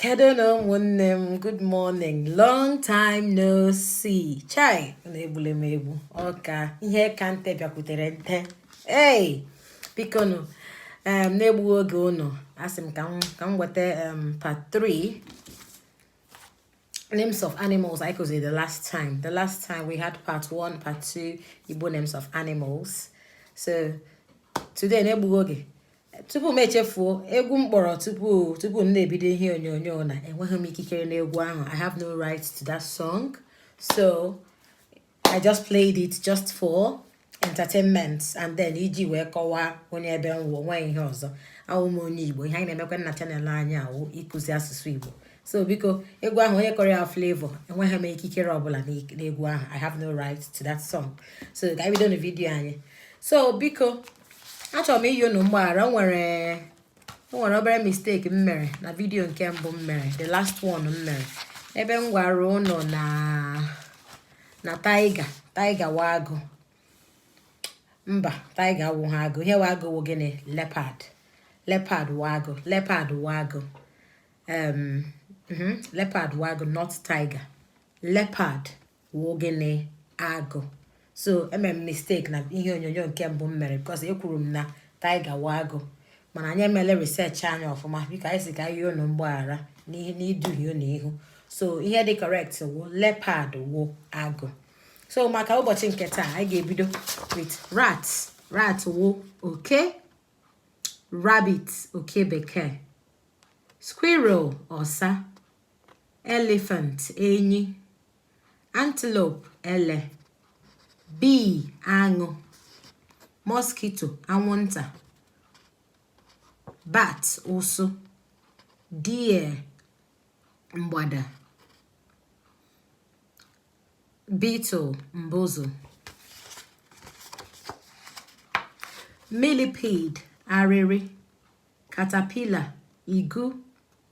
Kedu nụ ụmụnne m good morning long time no see chai ụnụ egbule m egbu ọ ka ihe ka nte bịakwutere nte ei bikonụ um, na-egbughị oge ụnụ asị m ka m weta um, part 3 names of animals I could say the last time. The last time we had part one, part two, Igbo names of animals. So today, na-egbughị oge, tupu m echefuo egwu m kpọrọ tupu tupu m na-ebido ihe onyonyo na enweghị m ikikere n'egwu ahụ i have no right to that song so i just played it just for entertainment and then iji wee kọwaa onye ebe m wụ o nweghị ihe ọzọ awụ m onye igbo ihe anyị na-emekwa na channel anyị a wụ ịkụzi asụsụ igbo so biko egwu ahụ onye kụrụ ya Flavour enweghị m ikikere ọbụla n'egwu ahụ i have no right to that song so ka anyị bido na vidiyo anyị so biko achọrọ m ịyọ unu mgbaghara o nwere obere mistake m mere na vidiyo nke mbụ m mere the last one m mere ebe m gwara ụnụ na na tiger tiger wụ agụ mba tiger awụhụ agụ ihe wụ agụ wụ gịnị leopard leopard wụ agụ leopard wụ agụ um, mhm, leopard wụ agụ not tiger leopard wụ gịnị agụ so emere m mistake na ihe onyonyo nke mbụ m mere because ekwuru m na tiger wụ agụ mana anyị emele research anyị ọfụma biko anyị sị ka anyị yọọ unu mgbaghara n'ihe n'iduhie unu ihu so ihe dị correct wụ leopard wụ agụ so maka ụbọchị nke taa anyị ga-ebido with rat rat wụ oke rabbit oke bekee squirrel ọsa elephant enyi antelope ele bee aṅụ mosquito anwụnta bat ụsụ deer mgbada beetle mbụzụ millipede arịrị caterpillar igu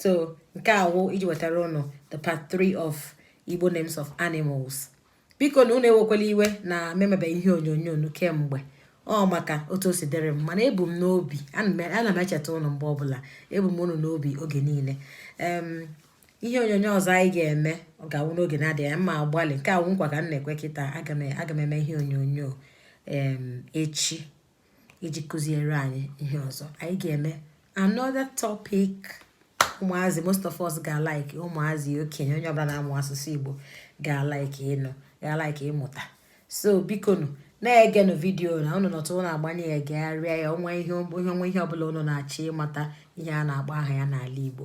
so nke a wụ iji wetara ụnụ the part 3 of Igbo names of animals biko nụ ụnụ ewekwala iwe na m emebe ihe onyonyo unu kemgbe ọ maka otu o si dịrị m mana ebu m n'obi ana m echeta ụnụ mgbe ọbụla ebu m ụnụ n'obi oge niile ihe onyonyo ọzọ anyị ga-eme ọ ga-awụ n'oge na-adịghị anya m ga-agbalị nke a wụ nkwa ka m na-ekwe kịta aga m eme ihe onyonyo echi iji kụziere anyị ihe ọzọ anyị ga-eme another topic ụmụazị most of us ga-alike ụmụazị okenye onye ọbụla na-amụ asụsụ Igbo ga-alike ịnụ ga-alike ịmụta so bikonụ na-egenụ vidiyo na ụnụ nọtụ ụnụ agbanye ya gegharịa ya o nwee ihe ọbụla ụnụ na-achọ ịmata ihe a na-agba aha ya n'ala Igbo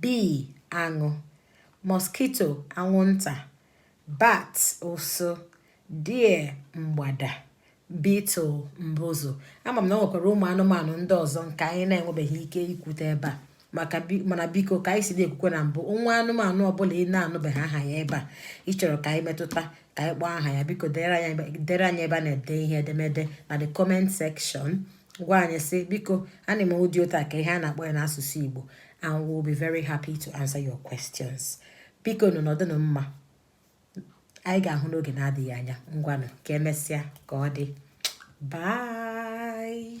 Bee, aṅụ. Mosquito, anwụnta. Bat, ụsụ. Deer, mgbada. Beetle, mbụzụ. Ama m na o nwekwara ụmụ anụmanụ ndị ọzọ nke anyị na-enwebeghị ike ikwute ebe a mana biko ka anyị si na-ekwukwe na mbụ o nwee anụmanụ ọbụla ị na-anụbeghị aha ya ebe a ị chọrọ ka anyị metụta ka anyị kpọọ aha ya biko dere anyị ebe a na-ede ihe edemede na the comment section gwa anyị sị biko animal dị otu a ka ihe a na-akpọ ya n'asụsụ Igbo and we will be very happy to answer your questions bikonụ nọdụnụ mma anyị ga-ahụ n'oge na-adịghị anya ngwanụ ka emesịa ka ọ dị bye